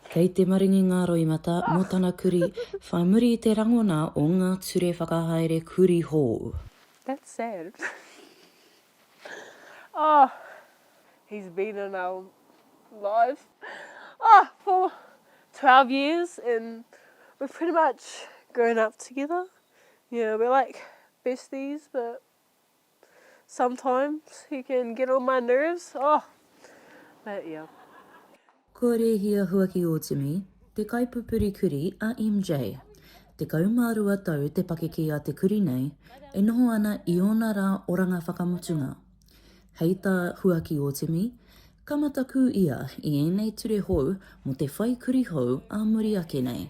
Kei te maringi ngā roimata mō tana kuri whai muri i te rangona o ngā ture whakahaere kuri hou. That's sad. Oh, he's been in our life oh for twelve years and we've pretty much grown up together. Yeah, we're like besties but Sometimes he can get on my nerves, oh, but yeah. Kua rēhia huaki ō Timi, te kaipupuri kurī a MJ. Tekau mā rua tau te pakeke a te kurī nei, e noho ana i ōna rā oranga whakamutunga. Hei tā huaki ō Timi, ka matakū ia i ēnei ture hou mō te whai kurī hou ā muri ake nei.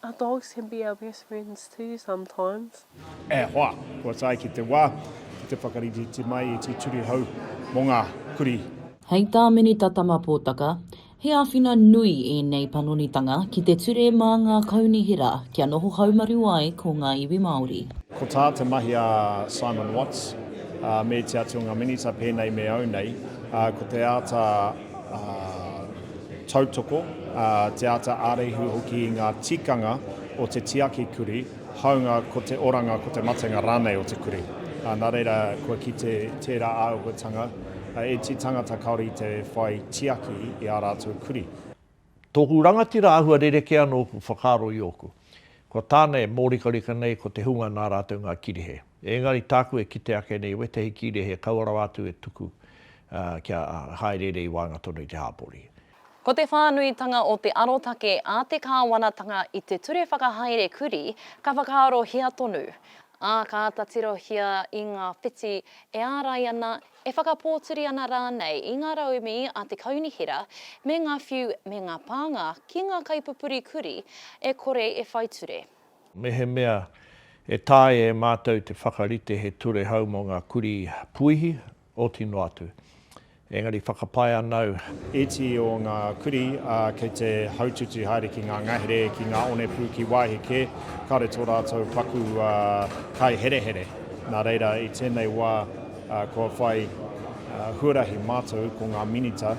Are dogs can be our best friends too sometimes. E hoa, kua tae ki te wā, ki te whakariterite mai e Tituri hau mō ngā kurī. Hei tā Minita Tama Potaka, he āwhina nui ēnei panonitanga ki te ture mā ngā kaunihera kia noho haumaru ai ko ngā iwi Māori. Ko tā te mahi a Simon Watts me te Āti o ngā Minita pēnei me au nei, ko te āta tautoko, te āta āreihu hoki i ngā tikanga o te tiaki kurī, hāunga ko te oranga, ko te matenga rānei o te kurī. Nā reira, kua kite tērā āhuatanga e tī tangata kāore i te whai tiaki i ā rātou kurī. Tōku rangatira āhua rerekē anō ōku whakaaro i ōku. Kua tāna e mōrikarika nei ko te hunga nā rātou ngā kīrehe. Ēngari tāku e kite ake nei wētahi kīrehe kaua rawa atu e tuku kia hāereere i waenga tonu i te hāpori. Ko te whānuitanga o te arotake a te Kāwanatanga i te ture whakahaere kurī ka whakaarohia tonu, ā, ka āta tirohia i ngā whiti e ārai ana e whakapōturi ana rānei i ngā raumi a te kaunihera me ngā whiu me ngā pānga ki ngā kaipupuri kurī e kore e whai ture. Mehemea e taea e mātou te whakarite he ture hou mō ngā kurī puihi, oti noa atu. Engari whakapae ana au. Iti o ngā kurī, ā, kei te haututu haere ki ngā ngahere, ki ngā onepū, ki wāhi kē, kāore tō rātou paku kaiherehere. Nā reira, i tēnei wā. Kua whai huarahi mātou ko ngā Minita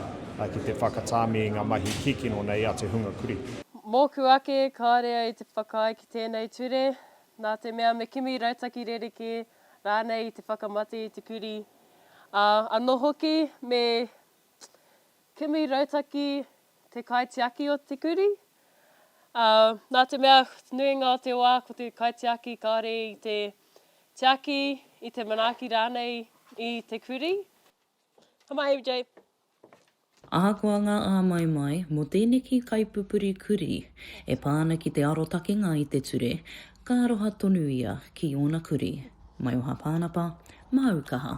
ki te whakatāmi i ngā mahi kikino nei a te hunga kurī. Mōku ake, kāore au i te whakaae ki tēnei ture, nā te mea me kimi rautaki rerekē rānei i te whakamate i te kurī, ā, anō hoki me Kimi Rautaki te kaitiaki o te kurī. Nā te mea te nuinga o te wā ko te kaitiaki kāore i te tiaki, i te manaaki rānei i te kurī. Ka mahi MJ. Ahakoa ngā āmaimai mō tēneki kaipupuri kurī e pā ana ki te arotakenga i te ture, ka aroha tonu ia ki ōna kurī. Maioha Pānapa, māu kaha.